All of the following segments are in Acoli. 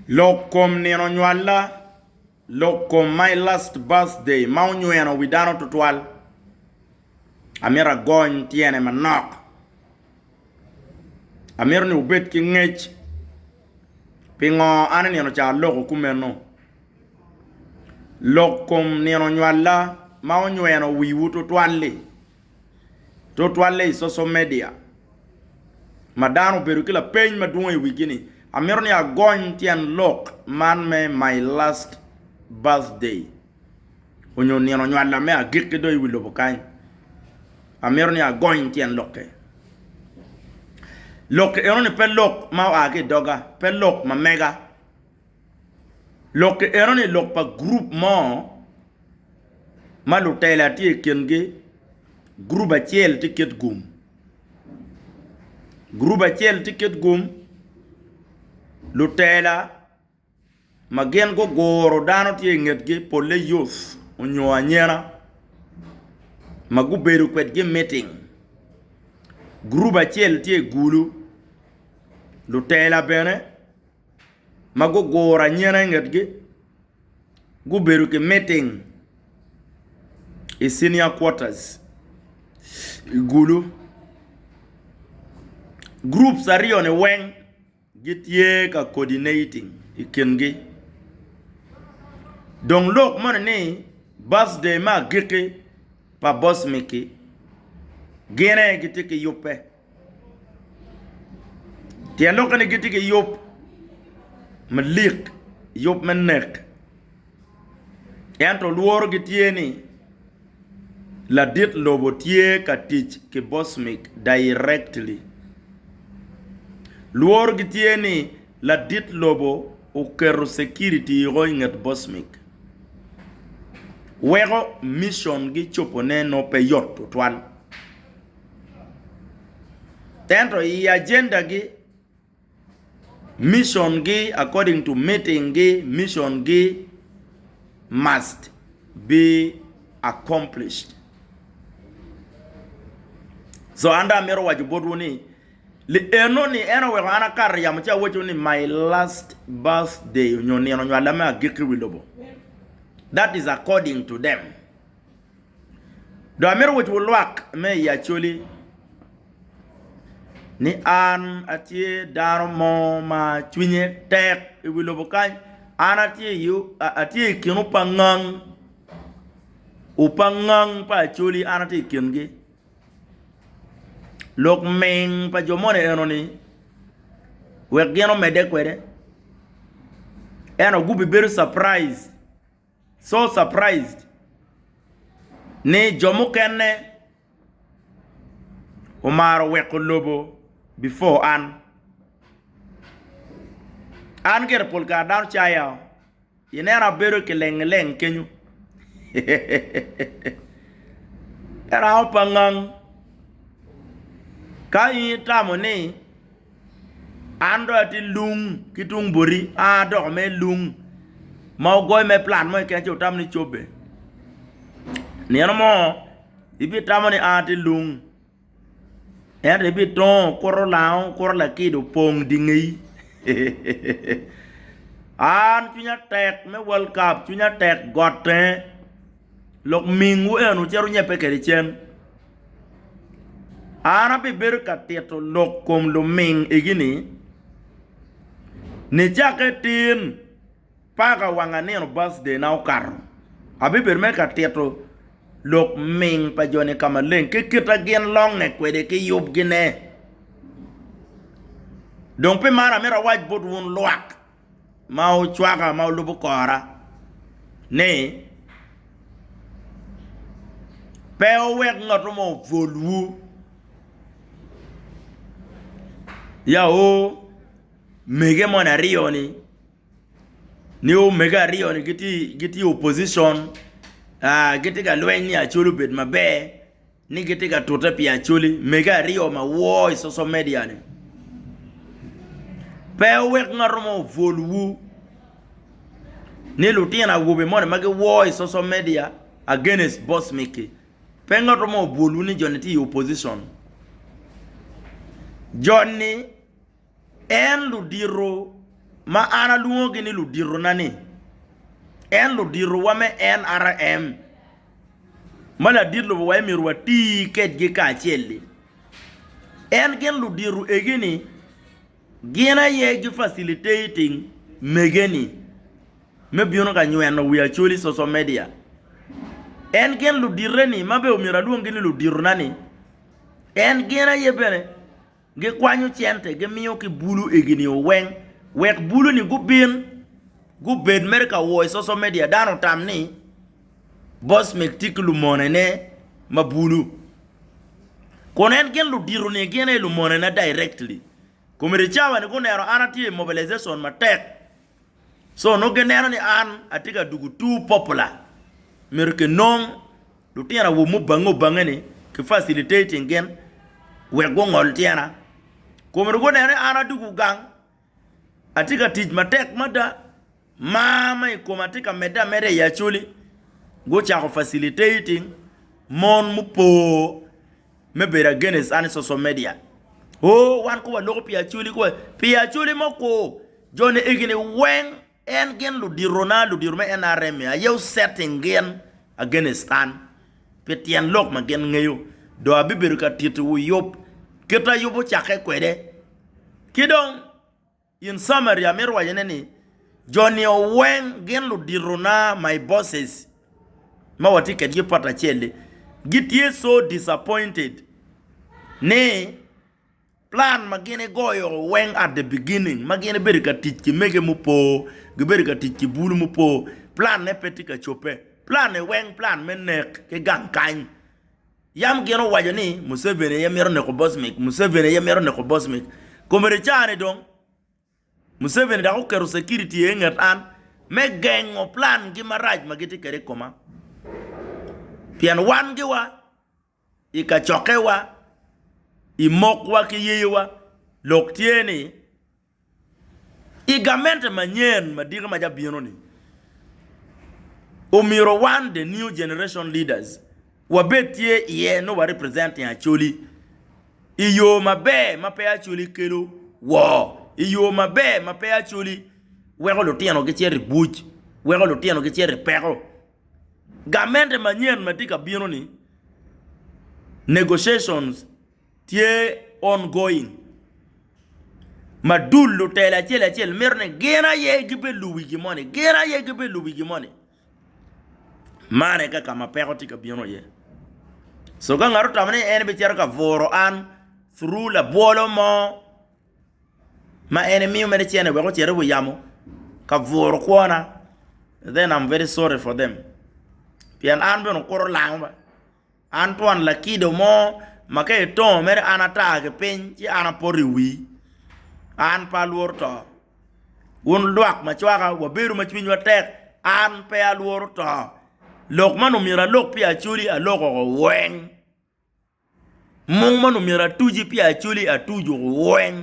Lok kom Nino Nywalla, Lok kom My Last Birthday ma onyweno wi dano tutwal, Amito agony tyene manok, Amito ni wubed ki ngec, Pingo an i nino ca aloko kumeno? Lok kom Nino Nywalla ma onyweno wiwu tutwal-li. Tutwalle i coco media ma dano obedo ki lapeny madwong i wigi ni, Amito ni agony tyen lok man me My Last Birthday onyo Nino Nywalla me Agikki do i wi lobo kany. Amito ni agony tyen lokke. Lok enoni pe lok ma oa ki i doga, pe lok ma mega. Lokki enoni lok pa gurup mo ma lutela tye i kingi, gurup acel tye ket gum gurup acel tye ket gum lutela ma gin guguro dano tye i ngetgi pole youth onyo anyena ma gubedo kwedgi i miting gurup acel tye i gulu lutela bene. ma guguro anyena i ngetgi gubedo ki miting i cinia quarters i gulu groups aryo ni weng gitye ka cordinating i kingi dong lok moni ni birthday me agikki pa boss miki gin aye gitye ki yubbe. Tyen lok eni gitye ki yub malik yub me nek ento lworo gitye ni ladit lobo tye ka tic ki Bosmic directly. Lworo gitye ni ladit lobo oketo security woko i nget Bosmic weko mission gi cobone nongo pe yot tutwal. Ento i agenda gi, mission gi according to meeting gi, mission gi must be accomplished. So an dong amito waco botwu ni li eno ni en oweko an akato yamo ci awaco ni my last birthday nyo nino nywala me agikki i wi lobo. That is according to them. Dong amito wacciwu lwak me i Acholi ni an atye dano mo ma cwinye tek i wi lobo kany. An atye i kin opangngang, opangngang pa Acholi an atye i kingi. Lok ming pa jo moni enoni wek gin omedde kwede ento gubibedo caprice So surprised ni jo mukene omaro weko lobo before an. An gire pol kare dano caya oo, ineno abedo kilengileng kenyo erango pangang ka in itamo ni. An dong atye lung ki tung boti, a adoko me lung ma wugoyo me plat mo keken ci wutamo ni cobbe. Nino mo ibitamo ni a atye lung ento ibitongo okuto lango, okuto lakido opong dye ngeyi. An cwinya tek me world cup, cwinya tek got tenge. Lok mingwu eni wucito wunyebbe kwede cen. An abibedo ka tito lok kom luming igi ni, nicakke tin paka wanga nino birthday na okato, abibedo mere ka tito lok ming pa joni ka maleng ki kita gin longe kwede ki yub gine. Dong pi man amito awac bot wun lwak. ma ocwaka ma olubo kora ni pe wuwek ngat mo opwolwu ya omege moni aryo ni ni omege aryo ni gitye opposition gitye ka lweny ni acol obed maber ni gitye ka tute pi Acholi mege aryo ma woo i social media ni. Pe wek ngat mo obwol wu ni lutino awobe moni ma giwoo i social media against Boss Miki, pe ngat mo obwol wu ni joni tye i opposition. Joni. En ludito ma an alwongogi ni luditona-ni, en luditowa me NRM ma ladit lobo aye myero wati kwedgi kacel-li. En gin ludito egi-ni gin aye gi facilitating mege-ni me bino ka nyweno wi Acholi social media. En gin ludite-ni ma bene omyero alwonggi ni luditona-ni, en gin aye bene. Gikwanyo cente gimiyo ki bulu igi-nio weng wek bulu-ni gubin gubed mere ka wo i social media. Dano otam ni Bosmik tye ki lumonene ma bulu, kun en gin ludito ni gin aye lumonena directly. Committee Chawa-ni guneno an atye i mobilization matek So nongo gineno ni an atye ka dwogo too popular. Myero kinong lutino awobe mubange obange ni ki facilitating gin wek gungol tyena. Kun myero guneno ni an adwogo gang, atye ka tic matek mada, mar ma i koma tye ka medde ameda i Acholi. Gucako facilitating mon mupo. me bedo against an i social media oo wan kong waloko pi Acholi kong, pi Acholi mo kwo joni egini weng en gin ludito na ludito me nrm ni aye osetting gin against an pi tyen lok ma gin ngeyo dong abibedo ka titiwu yub kit ayub ocakke kwede ki dong. In Samaria amito wacone ni, Jo nio weng gin luditona, my bosses, ma watye kedgi i pot acel-li, gitye so disappointed ni plan ma gin igoyo weng at the beginning ma gin ibedo ka tic ki mege mupo, gibedo ka tic ki bulu mupo, plan-ne pe tye ka cobbe. Plan-ni weng plan me nek ki gang kany. Yam gin owaco ni Museveni aye mito neko Bosmic, Museveni aye mito neko Bosmic. Komedi caa-ni dong, Museveni dok oketo security aye inget an me gengo plangi marac ma gitye kwede i koma. Pien wangi wa, i kacokke wa, i mokwa ki yeyewa, lok tye ni I gamente manyen madiki ma cabino-ni, omyero wan, The New Generation Leaders, wabed tye iye nongo wa representing Acholi i yo maber ma pe Acholi kelo woo, i yo maber ma pe Acholi weko lutino gicito i buc, weko lutino gicito i peko. Gamente manyen ma tye ka bino-ni, negotiations, tye ongoing ma dul lutela acel acel mito ni gin aye gibe lubi gin moni gin aye gibe lubi gin moni man aye ka ma peko tye ka bino iye so ka ngat otamo ni en bicito ka bwuro an through labwolo mo ma en emiyo mere cene wek ocit i wi yamo ka bwuro kwona then am very sorry for them pien an bene okuto olango ba. An twon lakido mo ma ka etongo mere an atar ki piny ci an apoto i wii, an pe alworo to, wun lwak ma cwaka wabedo ma cwinywa tek, an pe alworo to, lok ma nongo myero alok pi Acholi aloko woko weng, mung ma nongo myero atuci pi Acholi atuco weng.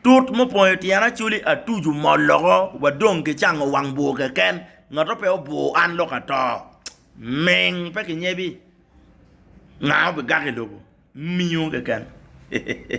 Tut mupong i tyen acoli atuc omol loko wa dong ki cango wang bur keken ngato pe obur an lok ato ming pe ki nyebi nga obi gako i lobo miyo keken hehehehe.